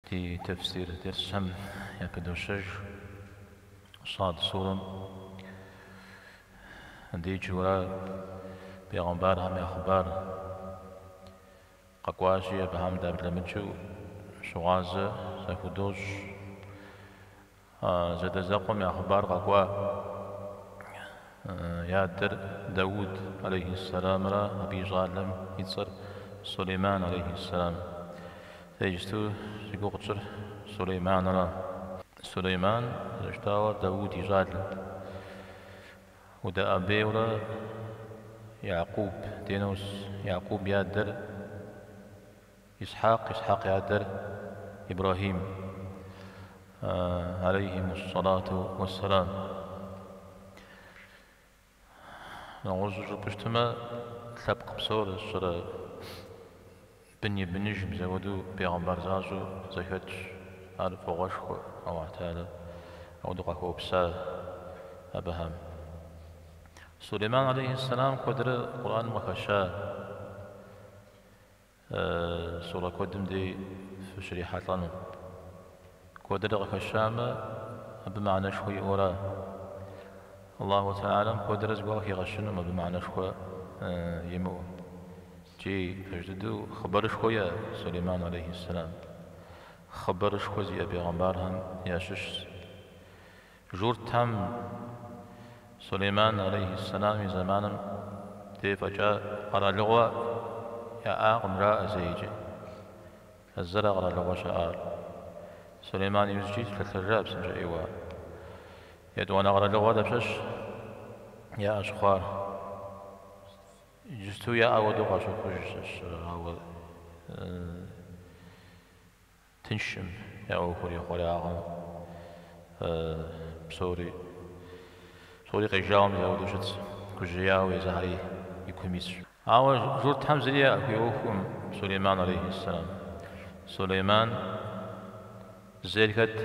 Ди тефсир дерсхэм япыдощэж Сад сурэм деджэурэ бегъымбархэм я хъыбар къэкӏуащи, абыхэм даблэмыкӏыу щыгъуазэ захудощӏ. А зэадэзэкъуэм я хъыбар къэкӏуа и адэр Дауд, алейхьиссэламрэ абы и щӏалэм и цӏэр Сулейман, алейхьиссэлам. Дэ иджысту зи гугъу тщӏыр Сулейманра. Сулейман, зэрыжытӏауэ, Дауд и щӏалэт. Удэӏэбейуэрэ Якъуб дей унос, Якъуб и адэр Исхьакъ, Исхьакъ и адэр Ибрэхьим, алейхимуссолату уэсселам. Нэгъуэщӏу жыпӏэщтэмэ, лъэпкъ псор ищӏэрэ бын и быныж мис ауэдэу бегъымбар защӏэу зэхэтщ, ар фӏыгъуэшхуэ, Аллаху Теалэ апхуэдэу къахуэупса абыхэм. Сулейман алейхиссолам куэдрэ Къурӏаным къыхэща. Сура куэдым дей фыщрихьэлӏэну. Куэдрэ къыхэщамэ, абы мыхьэнэшхуэ иӏэуэра? Аллаху Теалэм куэдрэ зыгуэр къыхигъэщынум абы мыхьэнэшхуэ имыӏэу. Икӏи пэж дыдэу хъыбарышхуэ иӏэ Сулейман алейхьиссэлам. Хъыбарышхуэ зиӏэ бегъымбархэм ящыщщ. Журтхэм Сулейман алейхи сэлам и зэманым дей фӏэкӏа къэралыгъуэ яӏакъым жаӏэ зэи иджы. А зэра къэралыгъуэ щаӏар. Сулейман иужькӏи лъэлъэжа псынщӏэ ӏейуэ. Етӏуанэ къэралыгъуэ дапщэщ яӏэ щыхъуар? Иджысту яӏэ хуэдэу къащыхъуж щхьэкӏэ, ауэ. Тыншӏым я ӏуэхур, ихъуреягъым псори, псори къежауэ мис ауэдэу щытщ, гужьеяуэ езыхэри и кум исщ. Ауэ журтхэм зыри яхуиӏуэхукъым Сулейман алейхьиссалам. Сулейман зейр хэт?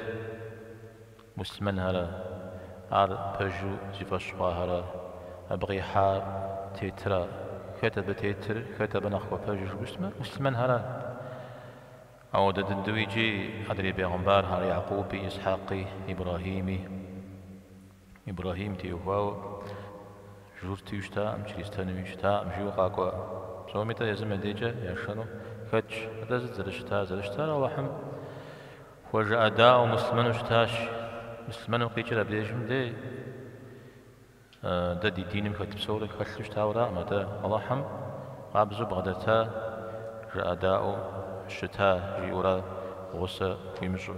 Муслъымэнхэра, ар пэжу зи фӏэщ хъуахэра, абы къихьам тетра, хэт абы тетыр, хэт абы нэхъ хуэпэжыр жыпӏэу щытмэ, муслъымэнхэра. Ауэдэ дыдэу иджы адрей бегъымбархэр, Якъуби, Исхьэкъи, Ибрэхьими. Ибрэхьим теухуауэ журтыу щытаӏым, чристэнуи щытаӏым, жиӏэу къэкӏуа, псоми-тӏэ езым я декӏэ яшэну хэтщ. Атӏэ сыт зэрыщытар? Зэрыщытар Алыхьым хуэжыӏэдаӏуэу муслъымэну щытащ. Муслъымэным къикӏыр абдежым дей. Дэ ди диным хэт псори хэлъу щытауэракъым, атӏэ Алыхьым къабзэу бгъэдэта, жыӏэдаӏуэу щыта жиӏэурэ гъусэ хуимыщӏу.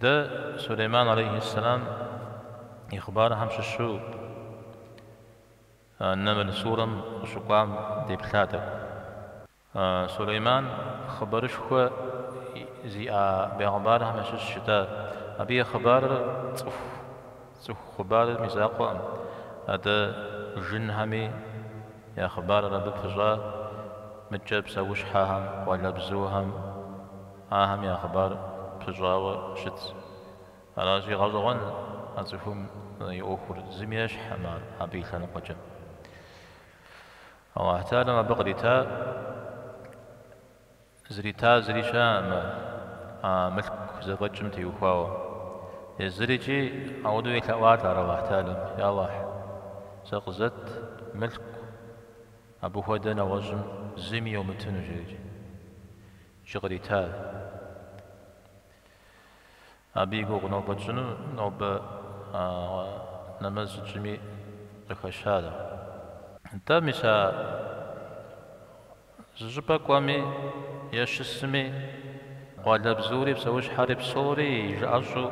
Дэ Сулейман алейхьи сэлам и хъыбархэм щыщу Нэмл сурэм къыщыкӏуам деплъатэкъэ. Сулейман хъыбарышхуэ зиӏа бегъымбархэм ящыщу щыта. Абы и хъыбарыр цӏыху, цӏыху хъыбарым и закъуэкъым. Атӏэ жынхэми я хъыбарыр абы пыщӏа. Мыдкӏэ псэущхьэхэм, къуалэбзухэм ахэм я хъыбар пыщӏауэ щыт. Аращи, гъэщӏэгъуэн а цӏыхум и ӏуэхур, зыми ещхькъым ар абы и лъэныкъуэкӏэ. Алыхьталэм абы кърита зрита зыри щыӏэкъым, мылъку зэфӏэкӏым теухуауэ. Езырикӏи ауэдэу елъэӏуат ар Алыхьталэм, Я Алыхь, сэ къызэт мылъку абы хуэдэ нэгъуэщӏым зыми йомытыну, жери. Икӏи кърита. Абы и гугъу нобэ тщӏыну нобэ нэмэз тщӏами къыхэщар. Нтӏэ, мис а зы щӏыпӏэ кӏуэми е щысми, къуалэбзури псэущхьэри псори и жыӏэщӏэу,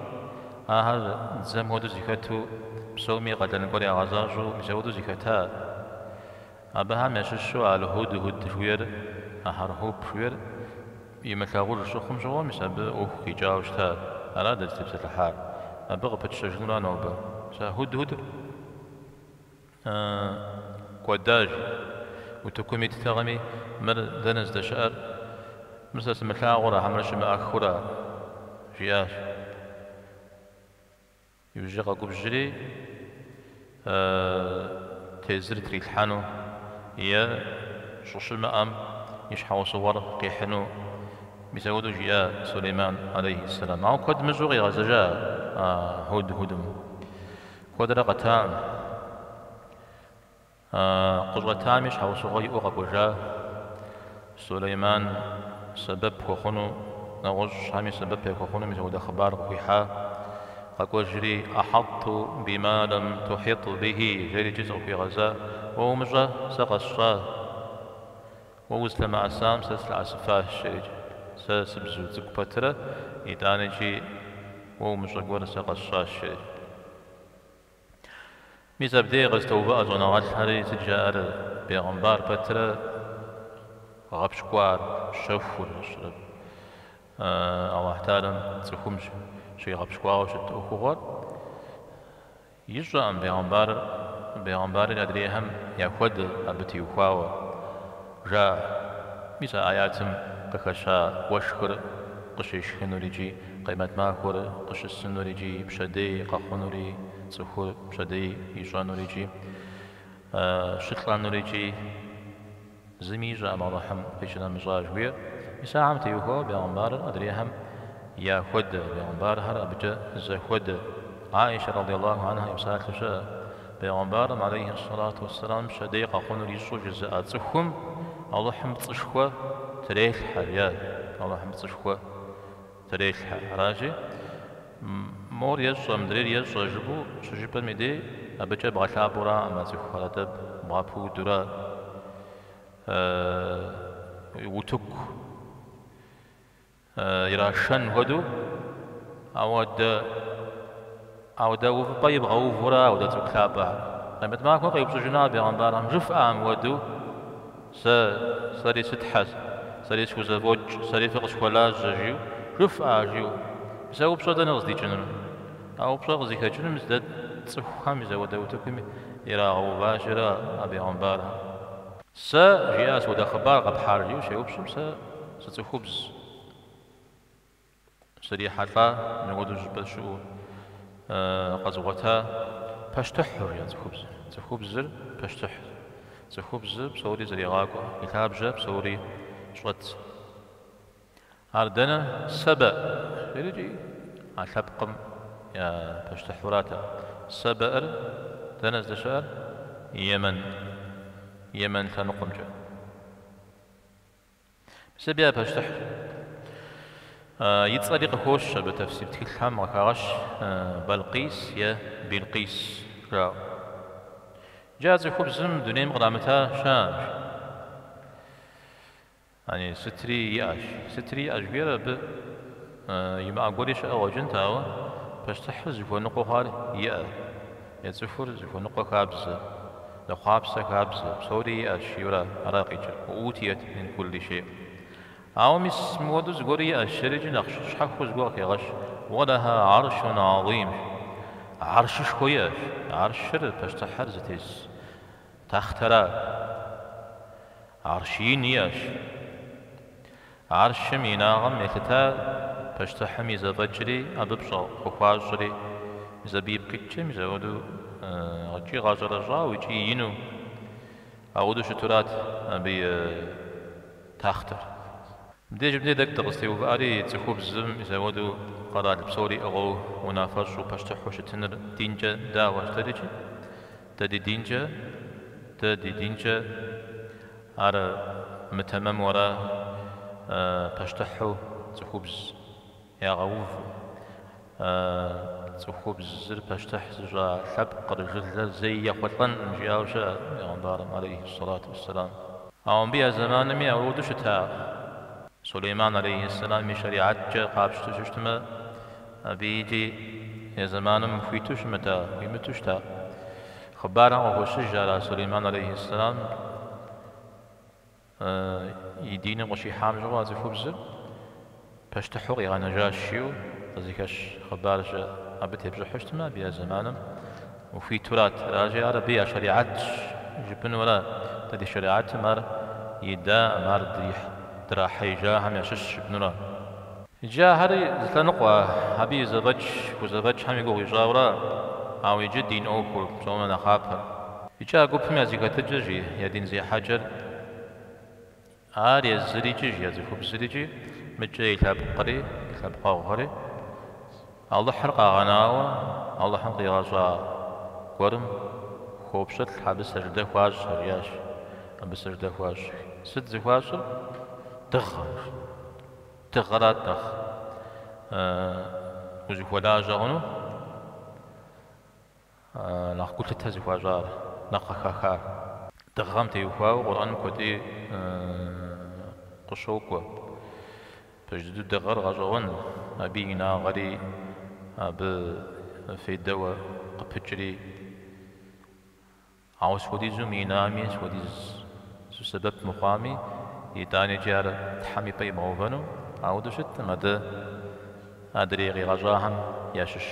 ахэр дзэм хуэдэу зыхэту, псоми къалэн гуэр ягъэзащӏэу мис ауэдэу зыхэта. Абыхэм ящыщу Аль-Хьудхьуд жыхуиӏэр, а хьэрхьуп жыхуиӏэр, имылъагъуж щыхъум щыгъуэ, мис абы ӏуэху къикӏауэ щытащ. Ара дэ дытепсэлъыхьар. Абы къыпытщэжынура нобэ. Мис а хьудхьудыр кӏуэдащ, утыкум иттэкъыми, мыр дэнэ здэщыӏэр? Мыр сэ сымылъагъура хьэмэрэ щымыӏэххыура? жиӏащ. Иужькӏэ къэгубжьри, тезыр трилъхьэну е щӏыщымыӏэм и щхьэусыгъуэр къихьыну, мис ауэдэу жиӏа Сулейман алейхьи сэлам. Ауэ куэд мыщӏэу къигъэзэжа а хьудхьудым. Куэдрэ къэтакъым. Къыщӏэтами щхьэусыгъуэ иӏэу къэкӏуэжа Сулейман сэбэп хуэхъуну, нэгъуэщӏ щхьэми сэбэп яхуэхъуну мис ауэдэ хъыбар къыхуихьа. Къэкӏуэжри, Ахьэтту бима лэм тухьит бихи, жери икӏи зыкъыхуигъэза. Уэ умыщӏэ, сэ къэсщӏа. Уэ узылъэмыӏэсам сэ сылъэӏэсыфащ, жери сэ сыбзу цӏыкӏу пэтрэ, итӏаникӏи уэ умыщӏэ гуэр сэ къэсщӏащ, жери. Мис абдеи къэзытоувыӏэ щӏэныгъэлӏхэри, сыт жаӏэр, бегъымбар пэтрэ гъэпщкӏуар щэхур ищӏрэп. Аллахь Таалям цӏыхум щигъэпщкӏуауэ щыт ӏуэхугъуэр ищӏэкъым, бегъымбарыр, бегъымбарыр адрейхэм яхуэдэ абы теухуауэ. Жа, мис а аятым къыхэща уэшхыр къыщешхынур икӏи къемэт махуэр къыщысынур икӏи пщэдей къэхъунури, цӏыхур пщэдей ищӏэнур икӏи щылӏэнур икӏи зыми ищӏэкъым Алыхьым къищынэмыщӏа жыхуиӏэр. Мис ахэм теухуауэ бегъымбарыр адрейхэм я хуэдэ, бегъымбархэр абыкӏэ зэхуэдэ. Аишэ радиаллаху анха и псалъэ щыӏэ. Пегъэмбарым алейхи ссалату уэсселам пщэдей къэхъунур ищӏэу жызыӏэ цӏыхум Алыхьым пцӏышхуэ трелъхьэ, е Алыхьым пцӏышхуэ трелъхьэ. Аращи, мор ещӏэ, мыдрейр ещӏэ жыпӏэу щыжыпӏэм и дей, абыкӏэ бгъэлъапӏэураӏым а цӏыхухэр, атӏэ бгъэпудурэ утыку. Ирашэн хуэдэу, ауэдэ, ауэдэ увыпӏэ ибгъэувурэ ауэдэ цӏыху лъапӏэхэр. Къемэт махуэ къеупщӏыжыну а бегъэмбархэм, жыфӏа мыуэду, сэ, сэри сытхьэ, сэри схузэфӏокӏ, сэри фыкъысхуэлажьэ, жиӏэу, жыфӏа, жиӏэу. Мис а упщӏэр дэнэ къыздикӏынур? А упщӏэр къызыхэкӏынур мис дэ цӏыхухэм, мис ауэдэ утыкуми ирагъэуващэрэ а бегъэмбархэм. Сэ, жиӏа, сыуэдэ хъыбар къэпхьар? жиӏэу щеупщӏым, сэ зы цӏыхубз срихьэлӏа, мыуэду щӏыпӏэ щыӏэу къэзгъуэта пащтыхьыр, жиӏа цӏыхубзыр. Цӏыхубзыр пащтыхьт. Цӏыхубзыр псори зэригъакӏуэ, и лъабжьэм псори щӏэт. Ар дэнэ? Сэбэӏ жери а лъэпкъым я пащтыхьурат ар. Сэбэӏыр дэнэ здэщыӏэр? Емэн. Емэн лъэныкъуэмкӏэ. Мис абы я пащтыхьщ. И цӏэри къыхощ абы тэфсир тхылъхэм къыхагъэщ Балкъис е Билкъис жаӏэу. Иджы а цӏыхубзым дунейм кърамыта щыӏэщ. Яни, сытри иӏэщ. Сытри иӏэщ жиӏэр абы имыӏа гуэри щыӏэ къуэкӏынт, ауэ пащтыхьыр зыхуэныкъуэ хъуар иӏэ, е цӏыхур зыхуэныкъуэ хабзэ, зэхъуапсэ хабзэ, псори иӏэщ, жиӏэурэ ара къикӏыр, уэ ӏутиет мин кулли шей. Ауэ мис мыуэду зыгуэри иӏэщ, жери иджы нэхъ щхьэхуэу зыгуэр къыхегъэщ, уэлэха гӏэрщун гӏэзимщ, гӏэрщышхуэ иӏэщ, гӏэрщыр, пащтыхьыр зытес тахътэра. Арщ ин иӏэщ. Арщым и инагъым елъытар пащтыхьым и зэфӏэкӏри абы пщӏэ хуэхуащӏри, абы ипкъ иткӏэ мис ауэдэу икӏи гъэщӏэрэщӏауэ икӏи ину ауэдэу щытурат абы и тахътэр. Мыбдеж мыбдей дэ дыкъызтеувыӏэри цӏыхубзым мис ауэдэу къэрал псори иӏыгъыу, унафэщӏу, пащтыхьу щытыныр динкӏэ дауэ щыт ар икӏи Дэ ди динкӏэ, дэ ди динкӏэ, ар мытэмэмура пащтыхьу цӏыхубз ягъэув, цӏыхубзыр пащтыхь зыщӏа лъэпкъыр, жылэр зэи ехъулӏэнкъым жиӏауэ щыӏэт пегъэмбарым, алейхи сэлату уэсселам. Ауэ мыбы я зэманми ауэдэу щытакъым. Сулейман, алейхи сэлам, и щэригьэткӏэ къапщтэу щытмэ, Абы икӏи я зэманым хуиту щымыта, хуимыту щыта хъыбарым къыхощыж ара Сулейман алейхи ссэлам и диныр къыщихьам щыгъуэ а цӏыхубзыр пащтыхьу къигъэнэжащ жиӏэу къызыхэщ хъыбар щыӏэ. Абы тепщӏыхьу щытмэ, абы я зэманым ухуитурат. Аращи, ар абы я шэригьэтщ жыпӏэну ара? Дэ ди шэригьэтым ар идэӏым, ар драхьеижахэм ящыщщ жыпӏэнура? Иджы ахэри зы лъэныкъуэ, абы и зэфӏэкӏ хузэфӏэкӏхэм и гугъу ищӏауэра, ауэ иджы дин ӏуэхур псоми нэхъапэр. Икӏи а гупым я зэхэтыкӏыр жи, я дин зехьэкӏэр, ар езыр икӏи жи, я цӏыхубзыр икӏи, мыдкӏэ и лъэпкъри, и лъэпкъэгъухэри, Алыхьыр къагъэнауэ, Алыхьым къигъэщӏа гуэрым хуопщылӏ, абы сэждэ хуащӏ, жиӏащ, абы сэждэ хуащӏ. Сыт зыхуащӏыр? Дыгъэ. Дыгъэрат нэхъ узыхуэлажьэ хъуну, нэхъ гулъытэ зыхуащӏар, нэхъ къыхахар. Дыгъэм теухуауэ Къурӏэным куэди къыщокӏуэ. Пэж дыдэу дыгъэр гъэщӏэгъуэн, абы и инагъэри абы фейдэуэ къыпыкӏри. Ауэ схуэдизу мыинами, схуэдизу сэбэп мыхъуами, итӏанэкӏи ар Тхьэм и пӏэ имыувэну ауэдэу щыткъым, атӏэ адрей къигъэщӏахэм ящыщ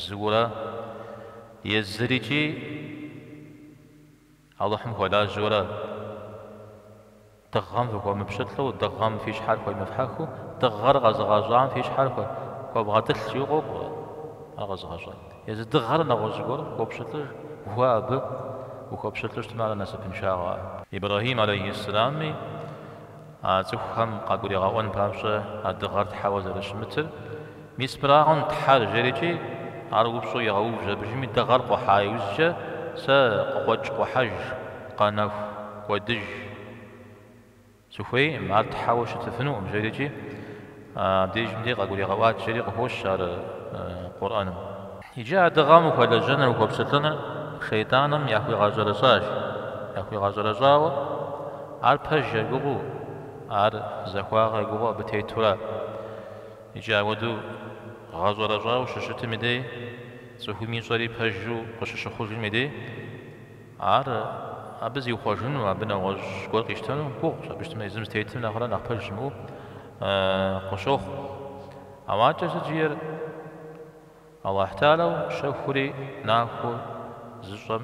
зыура, езыр икӏи Алыхьым хуэлажьэура, Дыгъэм фыхуэмыпщылӏу, дыгъэм фи щхьэр хуемыфхьэхыу, дыгъэр къэзыгъэщӏам фи щхьэр хуэвгъэтӏылъ, жиӏэу къокӏуэ ар къэзыгъэщӏам. Езы дыгъэр нэгъуэщӏ зыгуэр хуопщылӏыж, уэ абы ухуэпщылӏу щытмэ, ар насыпыншагъэ. Ибрэхьим алейхи сэлами, а цӏыхухэм къагуригъэӏуэн папщӏэ а дыгъэр тхьэуэ зэрыщымытыр, Мис мырагъэн Тхьэр, жерикӏи, ар упщӏэу егъэув абыжми дыгъэр къухьа иужькӏэ сэ къыкъуэкӏ-къухьэж, къэнэху, кӏуэдыж сыхуейкъым, ар Тхьэуэ щытыфынукъым, жерикӏи, абдежым дей къагуригъэӏуат жери къыхощ ар Къурӏэным. Иджы а дыгъэм ухуэлэжьэныр, ухуэпщылӏыныр шейтӏаным яхуигъэщӏэрэщӏащ, яхуигъэщӏэрэщӏауэ ар пэж ягугъэу, ар захуагъэ ягугъэу абы тетура? Икӏи ауэдэу гъэщӏэрэщӏауэ щыщытым и дей, цӏыхум ищӏэри пэжу къыщыщыхъужым и дей, ар абы зиухъуэжыну, абы нэгъуэщӏ гуэр къищтэну гугъущ, абы щытмэ, езым зытетым нэхърэ нэхъ пэж щымыӏэу къыщохъу. Ауакӏэ сыт жиӏэр Аллахь Теалэу щэхури нахуэу зыщӏэм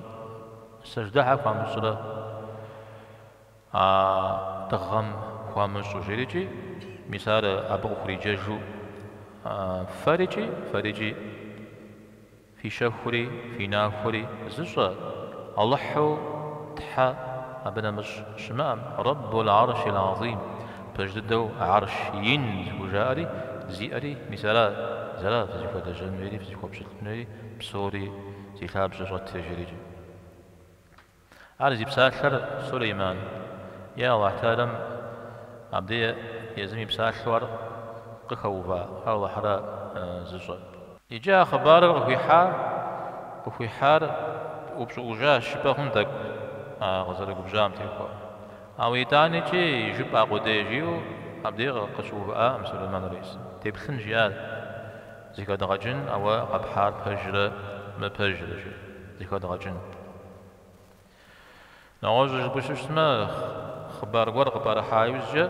сэждэ щхьэ хуамыщӏрэ? А дыгъэм хуамыщӏу жерикӏи, мис ар абы къыхуриджэжу, Фэрикӏи, фэрикӏи, фи щэхури, фи нахуэри зыщӏэ, Алыхьу Тхьэ абы нэмыщӏ щымыӏэм, Раббул гӏэрщил гӏазим, пэж дыдэу Гӏэрщ ин зыхужаӏэри, зиӏэри, мис ара, зыра фызыхуэлэжьэн хуейри, фызыхуэпщылӏын хуейри, псори зи лъабжьэ щӏэтри жерикӏи. Ар зи псалъэр Сулейман. Е Аллахь Теалэм абди езым и псалъэу ар къыхэува, ар Аллахьыра зыщӏэр. Иджы а хъыбарыр къыхуихьа, къыхуихьар упщӏыӏужащ жыпӏэ хъун тӏэкӏу а къызэрыгубжьам техуэу. Ауэ итӏанэкӏи жыпӏа къудей жиӏэу абди къыщыувыӏакъым Сулейман алейхисалам. Деплъын жи, ар зыхэдгъэкӏын, ауэ къэпхьар пэжрэ мыпэжрэ жи, зыхэдгъэкӏын. Нэгъуэщӏу жыпӏэу щытмэ, хъыбар гуэр къыпӏэрыхьа иужькӏэ,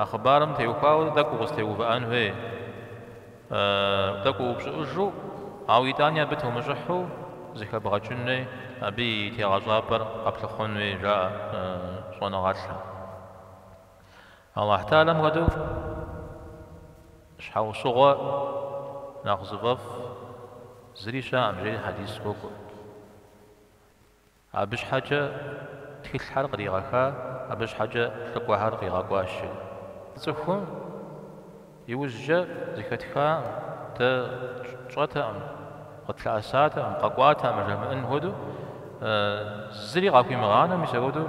а хъыбарым теухуауэ тӏэкӏу укъызэтеувыӏэн хуей, тӏэкӏу уупщӏыӏужу, ауэ итӏани абы теумыщӏыхьу зыхэбгъэкӏын хуей, абы и тегъэщӏапӏэр къэплъыхъуэн хуей, жаӏэ щӏэныгъэлӏым. Аллахь Теалэм хуэдэу щхьэусыгъуэ нэхъ зыфӏэфӏ зыри щыӏэкъым, жери хьэдис къокӏуэ. Абы щхьэкӏэ тхылъхэр къригъэха, абы щхьэкӏэ лӏыкӏуэхэр къигъэкӏуащи. Цӏыхум иужькӏэ зыхэтхаӏым, дэ тщӏэтэкъым, къытлъэӏэсатэкъым, къэкӏуатэкъым жамыӏэн хуэдэу, зыри къахуимыгъанэу, мис апхуэдэу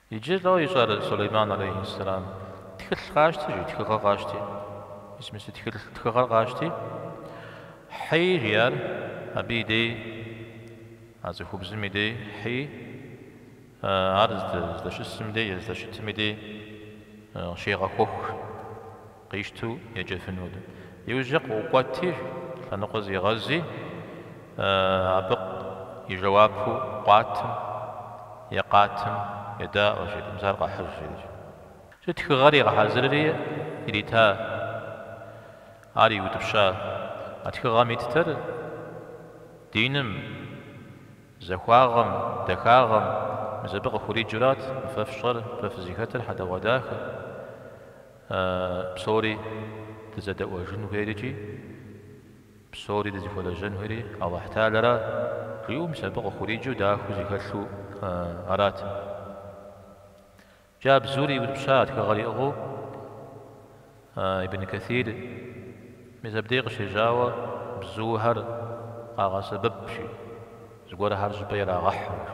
Иджы лӏо ищӏар Сулейман алейхьис-салам тхылъ къащти жи тхыгъэ къащти, мис мы си тхылъ тхыгъэр къащти, хьи жи ар абы и дей, а цӏыхубзым и дей, хьи, ар здэщысым дей е здэщытым и дей щегъэхуэх. Къищту еджэфын хуэдэу. Иужькӏэ къыӏукӏуэти, лъэныкъуэ зигъэзи, абы и жэуапу къуатым е къатым едаӏуэ, жи, мис ар къэхьыж, жери. Жи тхыгъэр игъэхьэзырри ирита, ар иутӏыпща. А тхыгъэм иттэр диным, захуагъэм, дахагъэм, мис абы къыхуриджурат мы фэ фщӏэр, фэ фызыхэтыр хьэдэгъуэдахэ. А псори дызэдэӏуэжын хуейр икӏи псори дызыхуэлэжьэн хуейри Алыхьталэра жиӏэу мис абы къыхуриджэу дахэу зэхэлъу арат. Икӏи а бзур иутӏыпща тхыгъэр иӏыгъыу Ибн Кэсир мис абдей къыщежьауэ бзухэр къагъэсэбэп, жи, зыгуэрхэр щӏыпӏэ ирагъэхьу жи.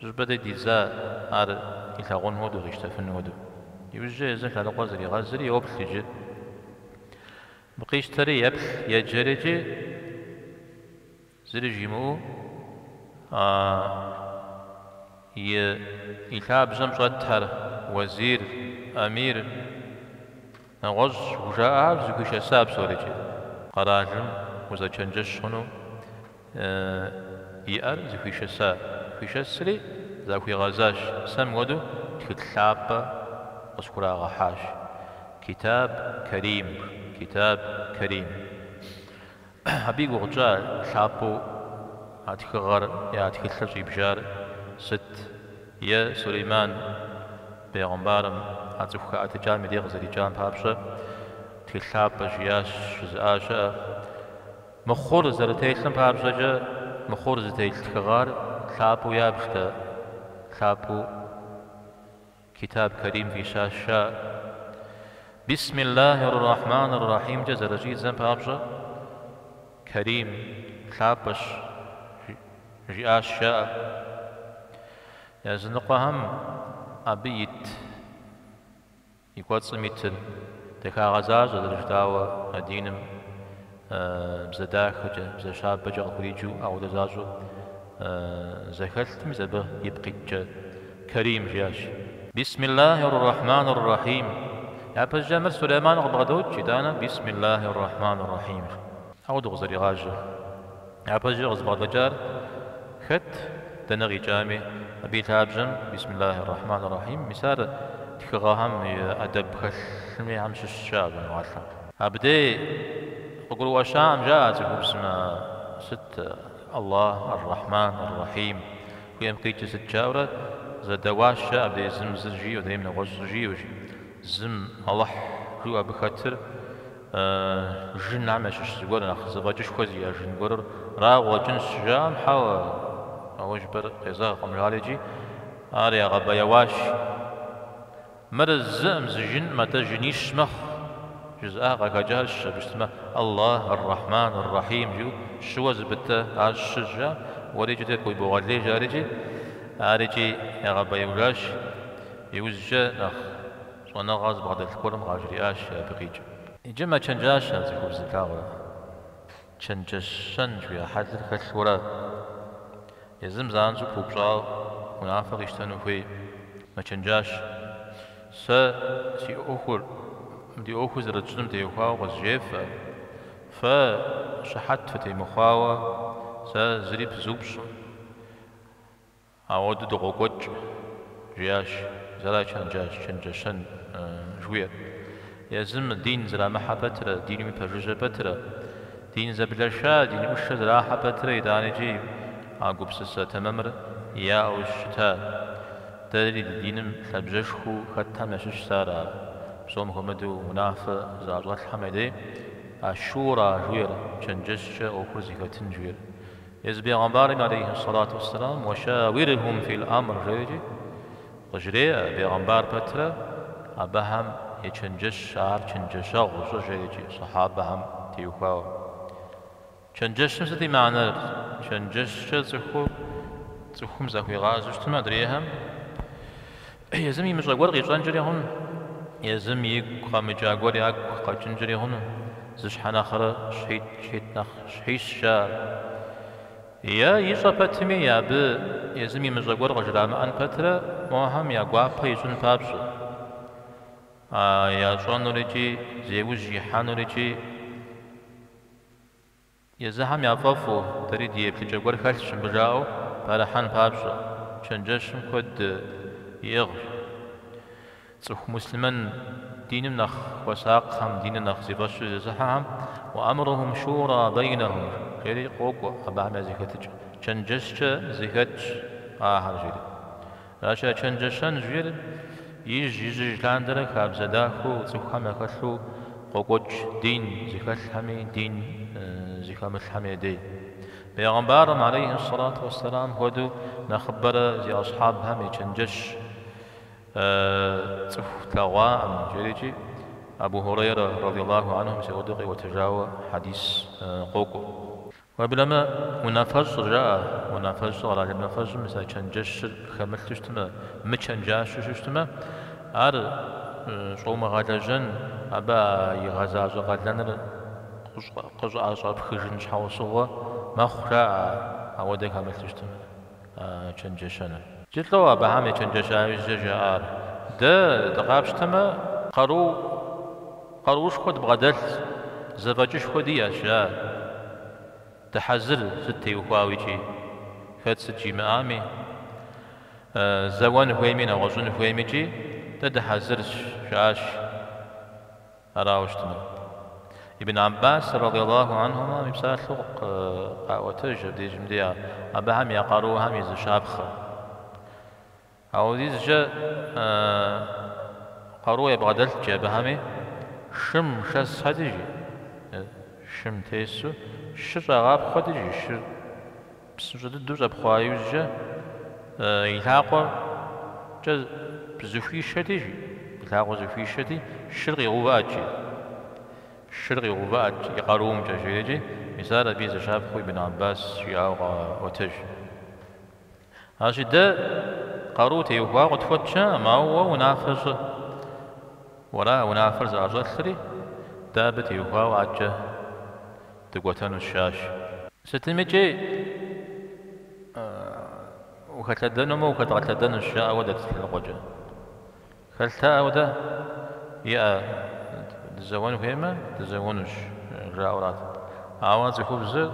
Щӏыпӏэ дей дидза ар илъагъун хуэдэу, къищтэфын хуэдэу. Иужькӏэ езыр лъэныкъуэ зригъэзри, йоплъ иджы абы. Къищтэри, еплъ, еджэри икӏи, зыри жимыӏэу, и и лъабжьэм щӏэттэр, уэзир, эмир, Нэгъуэщӏ хужаӏэр зэхуишэса псори икӏи, къэралым узэчэнджэщ хъуну иӏэр зэхуишэса. Зэхуишэсри захуигъэзащ, сэ мыпхуэдэу тхылъ лъапӏэ къысхурагъэхьащ. Китаб Карим, Китаб Карим. Абы и гугъукӏэ ар лъапӏэу а тхыгъэр е а тхылъыр щӏибжар сыт? Е Сулейман бегъымбарым а цӏыху хэӏэтыкӏам и дей къызэрикӏам папщӏэ тхылъ лъапӏэ жиӏащ, жызыӏа щыӏэ. Мыхъур зэрытелъым папщӏэкӏэ, мыхъур зытелъ тхыгъэр лъапӏэу ябжтэ, лъапӏэу Китаб Карим фӏищащ жаӏэр. Бисмиллахьи р-Рахьмани р-Рахьимкӏэ зэрыщӏидзэм папщӏэ, Карим, лъапӏэщ, жиӏащ жаӏэр. Языныкъуэхэм абы ит и кӏуэцӏым итыр дахагъэ защӏэ зэрыжытӏауэ а диным. Бзэ дахэкӏэ, бзэ щабэкӏэ къыхуриджу апхуэдэ защӏэу зэхэлъти мис абы ипкъ иткӏэ Карим жиӏащ. Бисмиллахьир рахьманыр рахьим. Япэщӏыкӏэ мыр Сулейман къыбгъэдокӏ, итӏанэ Бисмиллахьир рахьманыр рахьимщ. Апхуэдэу къызэригъажьэр. Япэкӏэ къызыбгъэдэкӏар хэт? Дэнэ къикӏами, абы и лъабжьэм Бисмиллахи эр-Рахьмани эр-Рахьим, мис ар тхыгъэхэм и ӏэдэб хэлъхэм щыщщ а гуныгъэлъым. Абдей къыгурыӏуэщаӏым жаӏэ цӏыхубзым, Сыт Аллах, эр-Рахьман, эр-Рахьим, жуиӏэм къикӏыр сыт? жаӏэурэ зэдэуащ, жаӏэ абдей зым зыр жиӏэу, адрейм нэгъуэщӏ зыр жиӏэу, жи. Зым, Алыхь, жиӏэу абы хэтыр. Жынхэм ящыщ зыгуэр нэхъ зэфӏэкӏышхуэ зиӏэ жын гуэрыр арауэ къыщӏэкӏынщ, жаӏэм, хьэуэ, а уэ жыпӏэр къезэгъкъым, жаӏэри икӏи ар ягъэбэяуащ. Мыр зыӏым зы жынкъым, атӏэ жынищ мэхъу, жызыӏа къахэкӏащ, абы щытмэ, Аллах, Ар-Рахьман, Ар-Рахьим жиӏэу щыуэ зыбытэ ар щыщ, жаӏэ, уэри икӏи тӏэкӏу ибогъэлей, жаӏэри икӏи, ар икӏи ягъэбэяужащ, иужькӏэ нэхъ. Щӏэныгъэ зыбгъэдэлъ гуэрым къажриӏащ абы къикӏыр. Иджы мэчэнджащэ а цӏыхубзыр, плъагъурэ. Чэнджэщэн жуиӏэ хьэлыр хэлъурэ, езым занщӏэу пыупщӏауэ унафэ къищтэну хуейӏым, мэчэнджащэ. Сэ си ӏуэхур ди ӏуэхур зэрытщӏыным теухуауэ къызжефӏэ. Фэ щыхьэт фытемыхъуауэ сэ зыри пызупщӏым. Апхуэдэу дыкъокӏуэкӏ, жиӏащ, зыра чэнджащ, чэнджэщэн жуиӏэр. Езым дин зэрамыхьэ пэтрэ, диным пэжыжьэ пэтрэ, дин зэблэша, дин ӏушэ зэрахьэ пэтрэ итӏанэкӏи а гупсысэ тэмэмыр яӏэу щыта? Дэри ди диным лъабжьэшхуэу хэтхэм ящыщ зыр ара? Псом хуэмыдэу унафэ зыӏэщӏэлъхэм я дей, а шура жуиӏэр, чэнджэщкӏэ ӏуэхур зэхэтын жуиӏэр? Езы бегъэмбарым алейхи сэлату уэсселам уашауирхум фил амр жери икӏи къыжреӏэ, бегъэмбар пэтрэ абыхэм ечэнджэщ, ар чэнджэщэгъу щӏы жери икӏи сахьабэхэм теухуауэ. Чэнджэщым сыт и мэнэр? Чэнджэщкӏэ цӏыху цӏыхум захуигъазэу щытмэ адрейхэм Езым имыщӏэ гуэр къищӏэнкӏэри хъуну, езым игу къэмыкӏа гуэр ягу къэкӏынкӏэри хъуну, зы щхьэ нэхърэ щхьитӏ, щхьитӏ нэхъ щхьищ жаӏэ. Е ищӏэ пэтми, абы езым имыщӏэ гуэр къыжрамыӏэн пэтрэ мохэм я гуапэ ищӏын папщӏэ, а ящӏэнур икӏи зеужь ихьэнур икӏи. Езыхэм яфӏэфӏу дэри ди еплъыкӏэ гуэр хэлъщ мыбы жаӏэу пэрыхьэн папщӏэ, чэнджэщым куэд иӏыгъщ. Цӏыху муслъымэн диным нэхъ хуэсакъхэм, диныр нэхъ зи фӏэщу зезыхьэхэм уаамрухум шура бэйнэхум жери къокӏуэ, абыхэм я зэхэтыкӏэ чэнджэщкӏэ зэхэтщ ахэр жери. Аращ а чэнджэщэн жиӏэр ижь-ижьыж лъандэрэ хабзэ дахэу цӏыхухэм яхэлъу къокӏуэкӏ дин зыхэлъхэми дин зыхэмылъхэми я дей. Пэйгъэмбарым, алейхьи ссалату уэсселам, хуэдэу нэхъыбэрэ зи асхьабхэм ечэнджэщ цӏыху тлъэгъуакъым, жери икӏи Абу Хьурейрэ, радийаллаху анху, мис ауэдэу къиӏуэтэжауэ хьэдис къокӏуэ. Уеблэмэ, унафэщӏыр, жаӏэ, унафэщӏыр къэралым и унафэщӏым мис а чэнджэщыр хэмылъу щытмэ, мычэнджащэу щытмэ, ар щӏумыгъэлэжьэн, абы а игъэзащӏэ къалэныр къыщӏыӏэщӏэпхыжын щхьэусыгъуэ мэхъу, жаӏэ, ауэдэ хэмылъу щытмэ. чэнджэщэныр. Икӏи лӏэу Абыхьэм ечэнджэща иужькӏэ жаӏар, Дэ дыкъапщтэмэ. Къару къаруушхуэ дбгъэдэлъщ, зэфӏэкӏышхуэ диӏэщ, жаӏэ. Дыхьэзырщ сыт теухуауэ икӏи, хэт сыт жимыӏами, зэуэн хуейми нэгъуэщӏын хуейми икӏи, дэ дыхьэзырщ, жаӏащ. Арауэ щытмэ, Ибн Аббас радыйаллаху анхумэ и псалъэу къаӏуэтэж абдежым дей а абыхэм я къаруухэм и зы щапхъэ. Ауэдизкӏэ къару ябгъэдэлът икӏи абыхэми шым шэсхэт икӏи, шым тесу шыр щӏагъапхъуэт икӏи, шыр. Псынщӏэ дыдэу щӏэпхъуа иужькӏэ и лъакъуэкӏэ зэхуишэти, и лъакъуэр зэхуишэти, шыр къигъэувыӏэт икӏи, шыр къигъэувыӏэт икӏи, и къаруумкӏэ, жери икӏи, мис ар абы и зы щапхъэу Ибн Аббас жиӏауэ къаӏуэтэж. Аращи, дэ къару теухуауэ къытхуэтщ, жаӏэм, ауэ уэ унафэ щӏы, уэра унафэр зыӏэщӏэлъри, дэ абы теухуауэ адэкӏэ. Дыкӏуэтэнущ, жаӏащ. Сытым икӏи ухэлъэдэнумэ, ухэдгъэлъэдэнущ, жаӏэуэ дэт лъэныкъуэкӏэ. Хэлътэӏэу дэ иӏэ дызэуэн хуеймэ, дызэуэнущ, жаӏэурат. Ауэ цӏыхубзыр.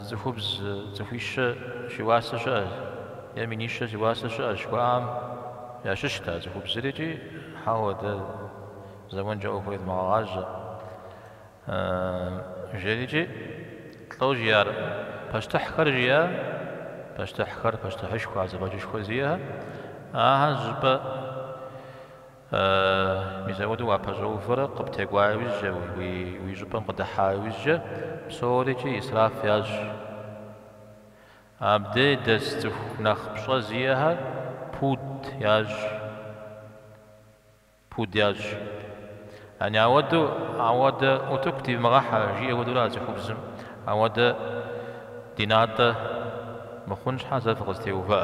Цӏыхубз цӏыхуищэ зи уасэ щыӏэщ е минищэ зи уасэ щыӏэщ жыхуаӏам ящыщт а цӏыхубзыр икӏи, хьэуэ, дэ зэуэнкӏэ ӏуэхур едмыгъэгъажьэ, жери икӏи лӏэу жиӏар пащтыхьхэр жиӏэ, пащтыхьхэр, пащтыхьышхуэ, а зэфӏэкӏышхуэ зиӏэхэр, ахэр щӏыпӏэ. Э, мисауэду уапэщӏэувэрэ къыптекӏуа иужькӏэ, уи, уи щӏыпӏэм къыдыхьа иужькӏэ, псорикӏи исраф ящӏ. Абдей дэс цӏыху нэхъ пщӏэ зиӏэхэр пуд ящӏ, пуд ящӏ. Яни ауэду, ауэдэ утыку дивмыгъэхьэ, жиӏэ уэдурэ а цӏыхубзым, ауэдэ ди натӏэ мыхъун щхьэ зэ фыкъызэтеувыӏэ.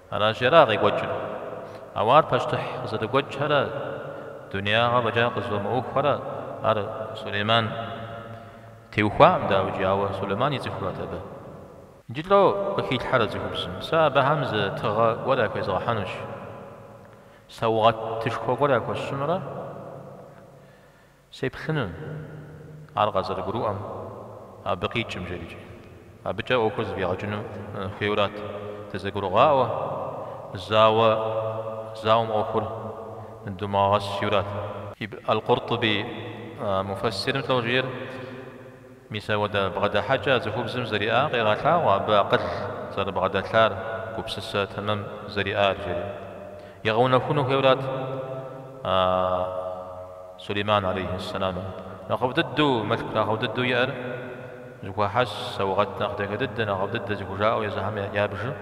Аращи, ара къекӏуэкӏыр? Ауэ ар пащтыхь къызэрыгуэкӏхэрэ дунеягъэ фӏэкӏа къызыфӏэмыӏуэхухэрэ ар Сулейман теухуакъым, дауикӏи, ауэ Сулейман ицӏыхурэт абы. Иджы лӏо къыхилъхьэрэ цӏыхубзым? Сэ абыхэм зы тыгъэ гуэр яхуезгъэхьэнущ, саугъэтышхуэ гуэр яхуэсщӏынурэ. Сеплъынут ар къазэрыгурыӏуэм, абы къикӏым жерикӏи. Абыкӏэ ӏуэхур зэфӏигъэкӏыну хуейурат дызэгурыгъаӏуэ, зауэ зауэм ӏуэхур думыгъэгъэс жиӏэурат. Аль-Къуртуби муфэссирым лӏо жиӏэр. Мисауэдэ бгъэдыхьэкӏэ а цӏыхубзым зэриӏар къегъэлъагъуэ абы акъыл зэрыбгъэдэлъар, гупсысэ тэмэм зэриӏар, жери. Егъэунэхуну хуейуэрат Сулейман алейхьи сэлам. Нэхъыфӏ дыдэу, мылъку нэхъыфӏ дыдэу иӏэр зэхуахьэс, саугъэт нэхъ дахэ дыдэ, нэхъыфӏ дыдэ зыхужаӏэу езыхэм ябжым.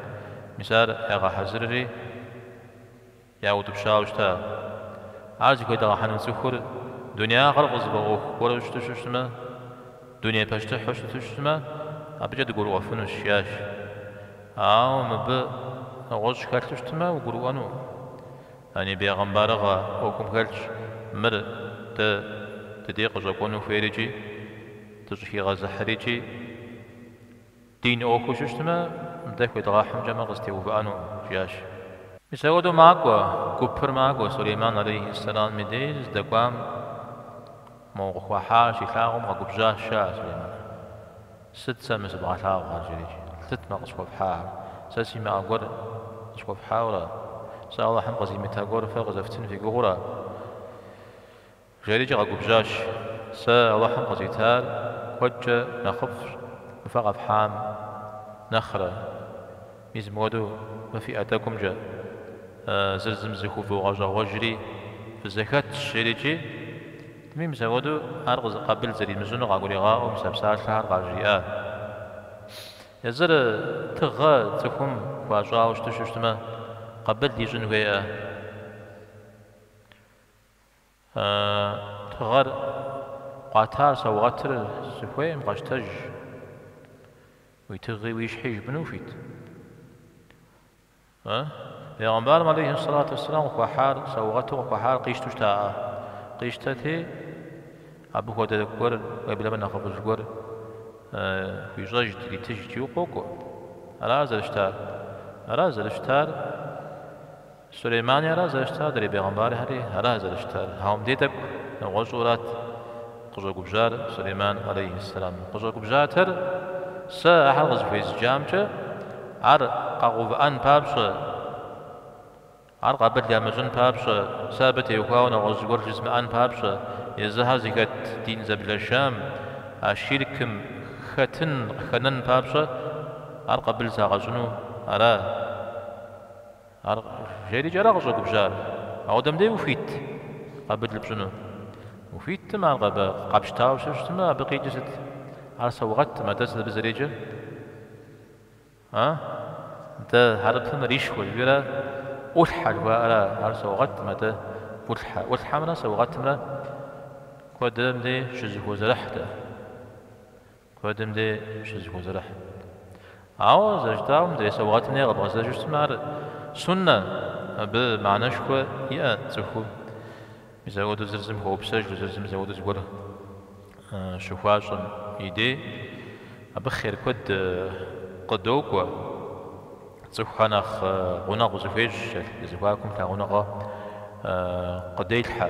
Мис ар ягъэхьэзырри. Яутӏыпщауэ щыта? Ар зыхуедгъэхьэну цӏыхур дунеягъэр къызыфӏэӏуэху гуэру щыту щытмэ, дуней пащтыхьу щыту щытмэ, абыкӏэ дыгурыӏуэфынущ, жиӏащ. Ауэ мыбы нэгъуэщӏ хэлъу щытмэ, угурыӏуэну? Яни бегъымбарыгъэ ӏуэхум хэлъщ мыр дэ ди дей къыщӏэкӏуэну хуейр икӏи дыщӏыхигъэзыхьыр икӏи. Дин ӏуэхуу щытмэ, дэ хуедгъэхьымкӏэмэ къызэтеувыӏэну, жиӏащ. Мисауэду макӏуэ, гупыр макӏуэ, Сулейман алейхи ссэлам и деж здэкӏуам моуэ къыхуахьар щилъагъум, къэгубжьащ, жаӏэ Сулейман. Сыт сэ мы сыбгъэлъагъухэр? жери. Сыт мэ къысхуэфхьахэр? Сэ симыӏэ гуэр къысхуэфхьауэра? Сэ Алыхьым къызимыта гуэр фэ къызэфтын фи гугъура? Жэрикӏэ къэгубжьащ, Сэ Алыхьым къызитар куэдкӏэ нэхъыфӏщ мы фэ къэфхьам нэхърэ. Мис мыуэду мы фиӏэ тӏэкӏумкӏэ зыр зым зыхуэвгъэщӏэгъуэжри фызэхэтщ, жерикӏи тми мисауэду ар къызы къэбыл зэримыщӏыну къагуригъаӏуэу мис а псалъэхэр къажриӏащ. Езыр тыгъэ цӏыхум хуащӏауэ щыту щытмэ, къэбыл ищӏын хуейӏэ. А тыгъэр къуатар саугъэтыр сыхуейм, къэщтэж. Уи тыгъи уи щхьи жыпӏыну ухуит? Э? Пейгъэмбарым алейхи сэлату уэсселам къыхуахьар, саугъэту къыхуахьар къищтэу щытаӏэ. Къищтэти, абы хуэдэ гуэр, уеблэмэ нэхъыфӏыжь гуэр хуищӏэжт, иритыжт, жиӏэу къокӏуэ. Ара зэрыщытар? Ара зэрыщытар? Сулеймани ара зэрыщытар, адрей пегъымбархьэри ара зэрыщытар, Ауэ мыбдей тӏэкӏу нэгъуэщӏурат къыщӏэгубжьар Сулейман алейхьэссэлам. Къыщӏэгубжьатэр, Сэ ахэр къызыхуезджамкӏэ, ар къэгъэувыӏэн папщӏэ, ар къабыл ямыщӏын папщӏэ, сэ абы теухуауэ нэгъуэщӏ зыгуэр жызмыӏэн папщӏэ, езыхьэр зыхэт дин зэблэшам, а щиркым, хэтын къыхэнэн папщӏэ, ар къабыл сагъэщӏыну ара? Ар жери икӏи ара къыщӏэгубжьар? Апхуэдэм дей ухуит къабыл пщӏыну? Ухуитым, ар къэ къэпщтауэ щытмэ, абы къикӏыр сыт? Ар саугъэтым, атӏэ сыт абы зэреджэр? А? Нтӏэ, хьэрыпым ришуэ жыхуиӏэра? ӏулъхьэ жыхуаӏэра? Ар саугъэтым, атӏэ ӏулъхьэ. ӏулъхьэмрэ саугъэтымрэ куэдым дей щызыхозэрыхь. Куэдым дей щызыхозэрыхь. Ауэ зэрыжытӏауэ, мыдэ саугъэтым дей къэбгъэзэжу щытмэ, ар суннэ, абы мыхьэнэшхуэ иӏэ цӏыхуу. Мис апхуэдэу зыр зым хуэупсэжу, зыр зым мис апхуэдэу зыгуэр щыхуащӏэм и дей, абы хъер куэд къыдокӏуэ. Цӏыхухэр нэхъ гъунэгъу зэхуещӏ, зэхуакум лъагъуныгъэ къыделъхьэ.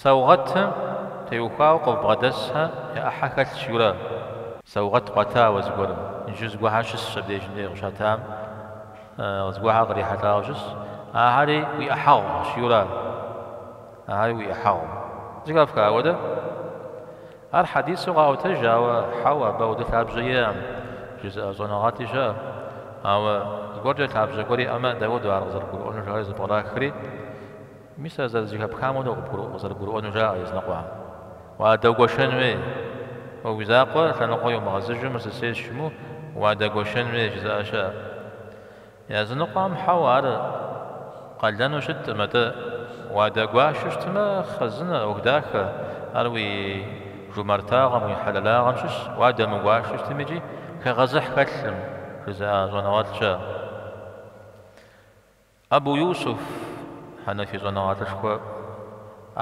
Саугъэтым теухуауэ къыббгъэдэсхьэ я ӏыхьэ хэлъ жиӏэу ара. Саугъэт къуита уэ зыгуэрым. Иджы зыгуэхьэ щысщ абдежым дей къыщатам. Зыгуэхьэ кърихьэлӏауэ щысщ. Ахэри уи ӏыхьэгъу жиӏэу ара. Ахэри уи ӏыхьэгъу. Зыхэфха апхуэдэ? Ар хьэдису къаӏуэтэж, ауэ хьэуэ, абы апхуэдэ лъабжьэ иӏэкъым, жызыӏэ щӏэныгъэлӏи щыӏэ. Ауэ зыгуэркӏэ лъабжьэ гуэр иӏэмэ, дауэ дэ ар къызэрыдгурыӏуэнур жаӏэри зэпкърахри? Мис ар зэрызэхэпхам хуэдэу къызэрыбгурыӏуэну жаӏэ языныкъуэм. Уадэгуэшэн хуей. Уэ уи закъуэ лъэныкъуэ иумыгъэзыжу мыр сысейщ жумыӏэу, уадэгуэшэн хуей, жызыӏэ щыӏэ. Языныкъуэм хьэуэ ар къалэну щыткъым, атӏэ уадэгуашэу щытмэ, хъэзынэ, ӏуэху дахэ, ар уи жумартагъэм, уи хьэлэлагъэм щыщ, уадэмыгуашэу щытым икӏи хэгъэзыхь хэлъым, жызыӏэ щӏэныгъэлӏ щыӏэ. Абу Юсуф, Хьэнэфи щӏэныгъэлӏышхуэ,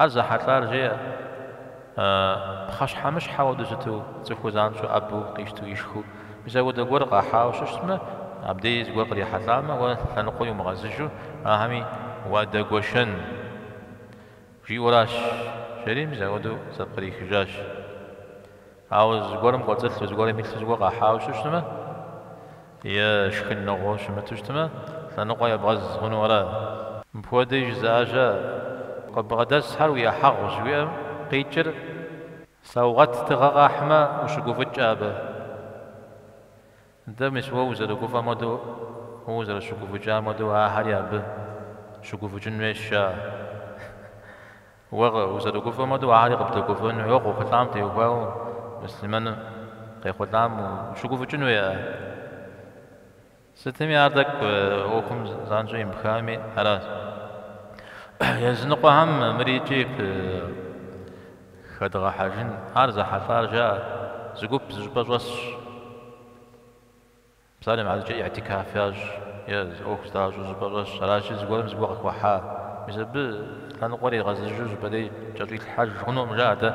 ар зэхьэлӏар жеӏэ, пхъэщхьэмыщхьэ хуэдэу щыту цӏыхур занщӏэу ӏэбэу къищту ишхыу мис апхуэдэ гуэр къахьауэ щыщытмэ, абдей зыгуэр кърихьэлӏамэ, уэ лъэныкъуэ иумыгъэзыжу ахэми уадэгуэшэн, жиӏэуращ, жери мис апхуэдэу зэпкърихыжащ. Ауэ зыгуэрым кӏуэцӏылъу, зыгуэрым илъу, зыгуэр къахьауэ щыщытмэ е шхыныгъуэу щымыту щытмэ, лъэныкъуэ ебгъэз хъуну ара? Мыпхуэдэуи жызыӏа щыӏэщ. Къыббгъэдэсхэр уи ӏыхьэгъущ, жиӏэм къикӏыр саугъэт тыгъэ къахьмэ, ущыгуфӏыкӏкӏэ абы. Дэ мис уэ узэрыгуфӏэм хуэдэу, уэ узэрыщыгуфӏыкӏам хуэдэу ахэри абы щыгуфӏыкӏын хуейщ, жаӏэ. Уэ узэрыгуфӏэм хуэдэу ахэри къыбдэгуфӏэн хуейуэ къохъулӏам теухуауэ муслъымэным къехъулӏам ущыгуфӏыкӏын хуей, а? Сытми ар тӏэкӏу ӏуэхум занщӏэу емыпхами аращ. Языныкъуэхэм мыри икӏи хэдгъэхьэжын, ар зэхьэлӏар жаӏэ, зы гуп зыщӏыпӏэ щӏэсщ. Псалъэм щхьэкӏэ и'тикаф ящӏ е зы ӏуэху здащӏэу зыщӏыпӏэ щӏэсщ. Аращи, зыгуэрым зыгуэ къыхуэхьа, мис абы лъэныкъуэ иригъэзыжу щӏыпӏэрей кӏэщӏилъхьэж хъунукъым, жаӏэ, атӏэ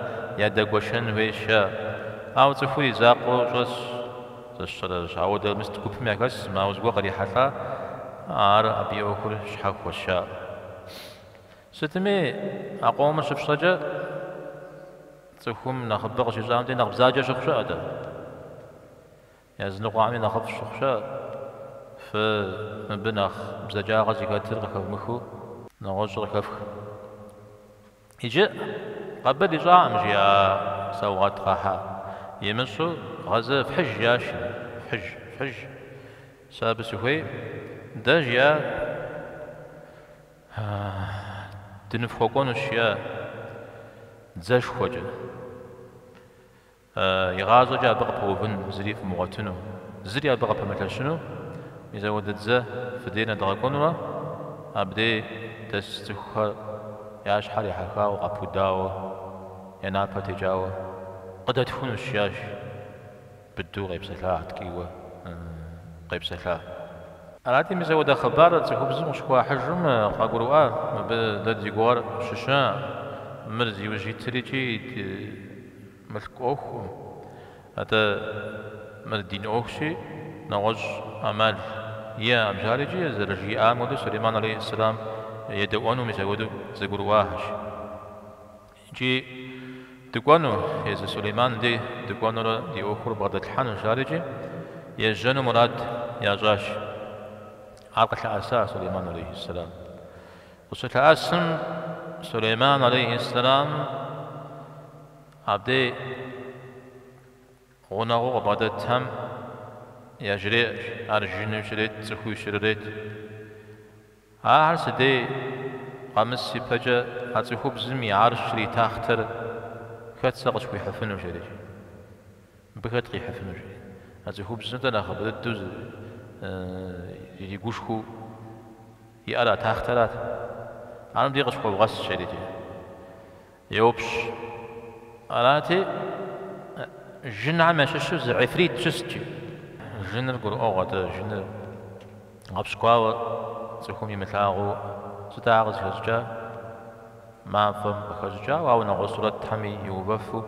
ядэгуэшэн хуейщ, жаӏэ. Ауэ цӏыхур и закъуэу щӏэсщ, зыщӏэращ. Ауэ дэ мис гупым яхэсым, ауэ зыгуэр кърихьэлӏа, ар абы и ӏуэхур щхьэхуэщ, жаӏэ. Сытми, а къомыр щыфщӏэкӏэ, цӏыхум нэхъыбэ къыщищӏэм дей, нэхъ бзаджэ щыхъу щыӏэ, атӏэ. Языныкъуэхэми нэхъыфӏ щыхъу щыӏэщ. Фэ мыбы нэхъ бзаджагъэ зыхэтыр къыхэвмыхыу нэгъуэщӏыр къыхэфх. Иджы къэбыл ищӏакъым, жиӏа саугъэт къахьа. Имыщӏу гъэзэ фхьыж, жиӏащ. Фхьыж, фхьыж. Сэ абы сыхуей, дэ, жиӏа, дыныфхуэкӏуэнущ, жиӏа, дзэшхуэкӏэ. Игъащӏэкӏэ абы къыпэувын зыри фымыгъуэтыну, зыри абы къыпэмылъэщыну, мис апхуэдэ дзэ фи дей нэдгъэкӏуэнурэ, абдей дэс цӏыхухэр я щхьэр ехьэхауэ, къэпудауэ, я напэр текӏауэ къыдэтхунущ, жиӏащ быдэу къепсэлъа, ткӏийуэ къепсэлъа. Арати, мис апхуэдэ хъыбар цӏыхубзым къыщыхуахьыжым къагурыӏуа, мыбы дэ ди гугъэр щыща, мыр зиужь итыр икӏи ит Мылъку ӏуэхукъым, атӏэ, мыр дин ӏуэхущи, нэгъуэщӏ ӏэмал иӏэкъым жарикӏи, зэрыжиӏам хуэдэу, Сулейман алейхьи сэлам едэӏуэну мис апхуэдэу зэгурыӏуахэщ. Икӏи дыкӏуэну, езы Сулейман дей дыкӏуэнурэ ди ӏуэхур бгъэдэтлъхьэну жарикӏи ежьэну мурад ящӏащ. Ар къылъэӏэса Сулейман алейхьи сэлам. Къыщылъэӏэсым Сулейман алейхи сэлам абдей гъунэгъуу къыбгъэдэтхэм яжреӏэщ, ар жыну щрет, цӏыхуи щрет. Ахэр си дей къэмыс ипэкӏэ а цӏыхубзым и гьарщыр, и тахътэр, хэт сэ къысхуихьыфыну жери. Мыбы хэт къихьыфыну жери. А цӏыхубзым-тӏэ нэхъыбэ дыдэу зэрыгушхуэу иӏэр а тахътэрат. Ар мыбдеж къысхуэвгъэс жерти, йоупщӏ. Арати, жынхэм ящыщу зы гьифрит щыст икӏи. Жыныр гурыӏуэгъуэ, атӏэ, жыныр. Гъэпщкӏуауэ цӏыхум имылъагъуу сыт ахэр къызыхэщӏыкӏар? Мафӏэм къыхэщӏыкӏауэ, ауэ нэгъуэщӏ сурэтхэми иувэфу,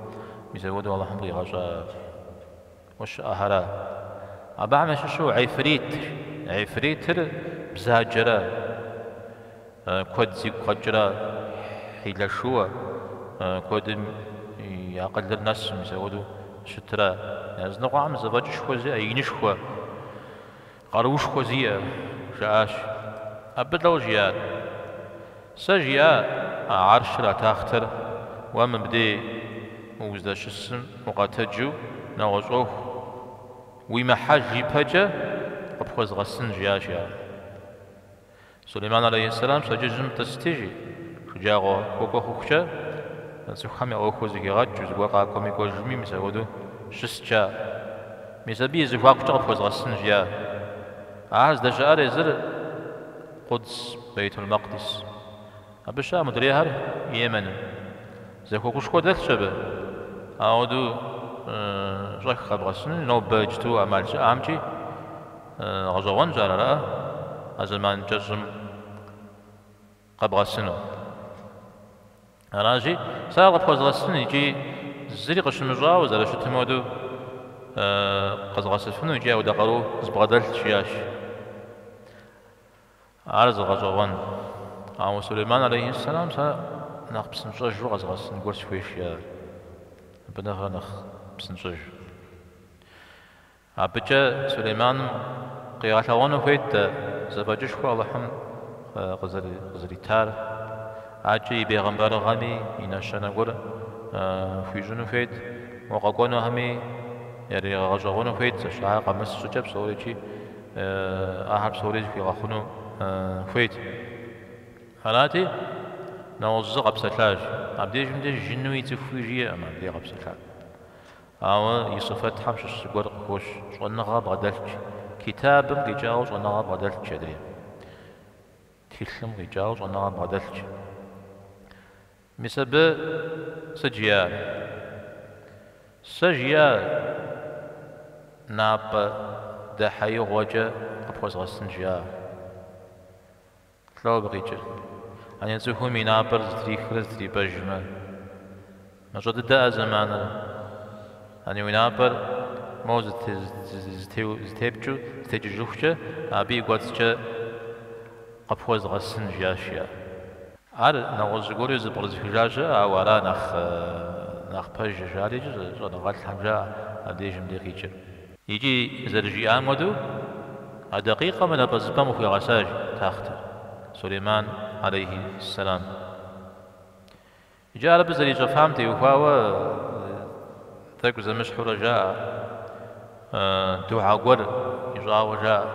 мис апхуэдэу Алыхьым къигъэщӏа уэ щыӏэхэра. Абыхэм ящыщу гьифрит, гьифритыр бзаджэрэ, куэд зигу къэкӏрэ, хьилэшыуэ, куэдым и акъылыр нэсу, мис апхуэдэу щытыра, языныкъуэхэм зэфӏэкӏышхуэ зиӏэ, инышхуэ. Къаруушхуэ зиӏэ, жаӏащ. Абы лӏэу жиӏат. Сэ жиӏа а гьарщыр а тахътэр уэ мыбдей мы уздэщысым укъэтэджу нэгъуэщӏ ӏуэху уимыхьэж ипэкӏэ къыпхуэзгъэсын жиӏащ ар. Сулейман алейхьэссэлам пщэдджыжьым тӏысыт жи, шэджагъуэ хуэкӏуэ хъухукӏэ, цӏыхухэм я ӏуэхур зэхигъэкӏыу, зыгуэр къакӏуэми кӏуэжми мис апхуэдэу щыст, жаӏэ, мис абы и зэхуакукӏэ къыпхуэзгъэсынщ, жиӏа. Ахэр здэщыӏэр езыр Къудс, Бейтул-Макъдис. Абы щыӏэ мудрейхэр Йеменым. Зэхуакушхуэ дэлъщ абы, апхуэдэу щӏэх къэбгъэсыну, нобэ иджыту ӏэмал щыӏэмикӏи. Гъэщӏэгъуэнщ ар ара а зэман кӏэщӏым къэбгъэсыну. Аращи, сэ ар къыпхуэзгъэсын икӏи зыри къыщымыщӏауэ зэрыщытым хуэдэу къэзгъэсыфыну икӏи апхуэдэ къару збгъэдэлъщ, жиӏащ. Ар зы гъэщӏэгъуэн. Ауэ Сулейман алейхьиссэлам сэ нэхъ псынщӏэжу къэзыгъэсын гуэр сыхуейщ, жиӏащ. Абы нэхърэ нэхъ псынщӏэж. Абыкӏэ Сулейманым къигъэлъэгъуэну хуейт дэ зэфӏэкӏышхуэ Алыхьым къызэритар, ӏэкӏи и бегъымбарыгъэми и нэщэнэ гуэр хуищӏыну хуейт, уэ къэкӏуэнухэми яригъэгъэщӏэгъуэну хуейт, зэщ ар къэмыс щӏыкӏэ псорикӏ ахэр псорикӏ хуигъэхъуну хуейт. Арати, нэгъуэщӏ зы къэпсэлъащ. Абдежым деж жынуи цӏыхууи жиӏэкъым, абдей къэпсэлъа. Ауэ и сифэтхэм щыщ зыгуэр къыхощ, щӏэныгъэ бгъэдэлъщ. Китабым къикӏауэ щӏэныгъэ бгъэдэлъщ адрей. Тхылъым къикӏауэ щӏэныгъэ бгъэдэлъщ. Мис абы сыт жиӏар? Сэ жиӏэ напӏэдэхьеигъуэкӏэ къыпхуэзгъэсын жиӏа? Лӏо абы къикӏыр. Ани цӏыхум и напӏэр зэтрихрэ зэтрипӏэжмэ, мащӏэ дыдэ а зэманыр. Ани уи напӏэр моу зэтепкӏыу зэтекӏыжыхукӏэ, абы и кӏуэцӏкӏэ къыпхуэзгъэсын, жиӏащ и ар. Ар нэгъуэщӏ зыгуэру зэпкърызыхыжа щыӏэщ, ауэ ара нэхъ пэжыр, жари щӏэныгъэлӏхэм жаӏэ абдежым дей къикӏыр. Икӏи, зэрыжиӏам хуэдэу, а дакъикъэм напӏэзыпӏэм къыхуигъэсащ тахътыр, Сулейман алейхи ссэлам. Иджы ар абы зэрищӏэфам теухуауэ тӏэкӏу зэмыщхьурэ жаӏэ, дугьэ гуэр ищӏауэ жаӏэ,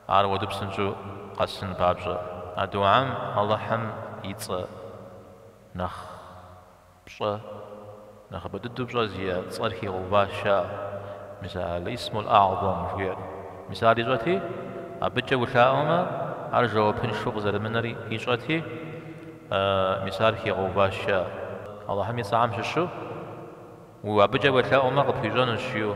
ар уэду псынщӏэу къэсын папщӏэ. А дугьэм Алыхьым и цӏэ нэхъ. Пщӏэ, нэхъыбэ дыдэу пщӏэ зиӏэ цӏэр хигъэуващ, мис а Ал-исмул-агьзэм жиӏэр, мис ар ищӏэти, абыкӏэ улъаӏуэмэ, ар жэуапыншэу къызэрымынэр ищӏэти, мис ар хигъэуващ. Алыхьым и цӏэхэм щыщу, уэ абыкӏэ уелъэӏуэмэ, къыпхуищӏэнущ, жиӏэу.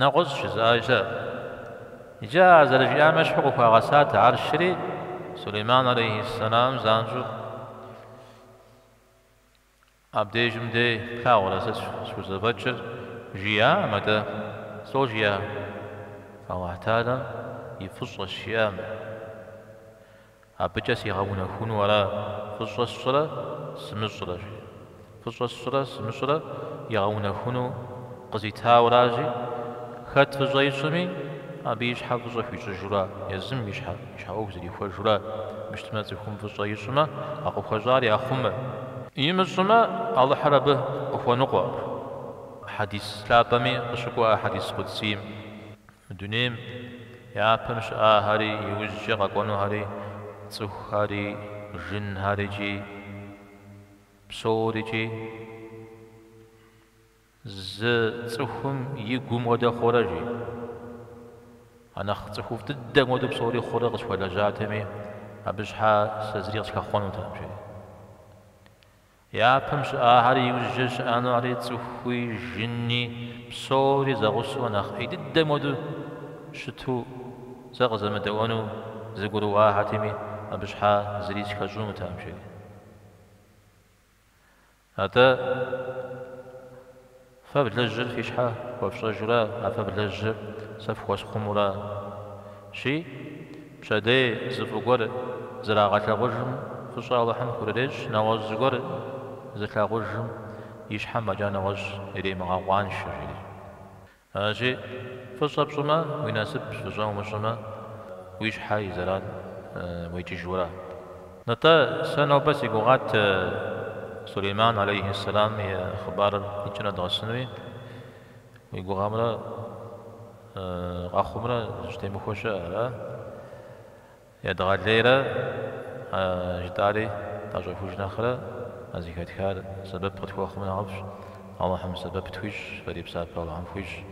Нэгъуэщӏ жызыӏа щыӏэщ. Иджы ар зэрыжиӏам ещхьу къыхуагъэсат арщри, Сулейман алейхьис-салам занщӏэу абдежым дей плъагъурэ сэ схузэфӏэкӏыр, жиӏакъым абдей. Слӏо жиӏа? Алыхь Тэгьэлэм и фӏыщӏэщ жиӏамэ. Абыкӏэ сигъэунэхуну ара фӏыщӏэ сщӏрэ сымыщӏрэ? жи. Фӏыщӏэ сщӏрэ сымыщӏрэ игъэунэхуну къызитауэ аращ, жи, хэт фӏыщӏэ ищӏми, абы и щхьэ фӏыщӏэ хуищӏыжу ара, езым и щхьэ и щхьэ ӏуэху зэрихуэжу ара, мыщтмэ, цӏыхум фӏыщӏэ ищӏмэ, а къыхуэщӏар яхъумэ. Имыщӏымэ, Алыхьыр абы къыхуэныкъуэкъым. Хьэдис лъапӏэми къыщыкӏуэ а хьэдис къудсийм. Мы дунейм япэм щыӏахэри иужькӏэ къэкӏуэнухэри, цӏыхухэри, жынхэрикӏи псорикӏи, зы цӏыхум и гум хуэдэ хъурэ, жи. А нэхъ цӏыхуфӏ дыдэм хуэдэу псори хъурэ къысхуэлэжьатэми, абы щхьа сэ зыри къысхэхъуэнутэкъым, жери. Япэм щыӏахэри иужькӏэ щыӏэнухэри цӏыхуи, жыни, псори зэгъусэу нэхъ ӏей дыдэм хуэдэу щыту зэ къызэмыдэӏуэну зэгурыӏуахэтэми, абы щхьа зыри схэщӏынутэкъым, жери. Атӏэ. Фэ влэжьыр фи щхьэ хуэфщӏэжу ара, фэ влэжьыр сэ фхуэсхъуму аращи, пщэдей зы фӏы гуэр зрагъэлъагъужым фӏыщӏэ Алыхьым хурырещӏ, нэгъуэщӏ зыгуэр зылъагъужым и щхьэм фӏэкӏа нэгъуэщӏ иремыгъэкъуаншэ, жери. Аращи, фӏыщӏэ пщӏымэ, уи насып, фӏыщӏэ умыщӏымэ, уи щхьэ и зэран уекӏыжу ара. Нтӏэ, сэ нобэ си гугъат Сулейман алейхи сэлам и хъыбарыр и кӏэ нэдгъэсынуи, уи гугъэмрэ къэхъумрэ зыщытемыхуэ щыӏэ, ара? Едгъэлейрэ, а жытӏари тӏэщӏэхуж нэхърэ, а зыхэтхар сэбэп къытхуэхъумэ нэхъыфӏщ, Алыхьым сэбэп тхуищӏ, фэри псапэ Алыхьым фхуищӏ.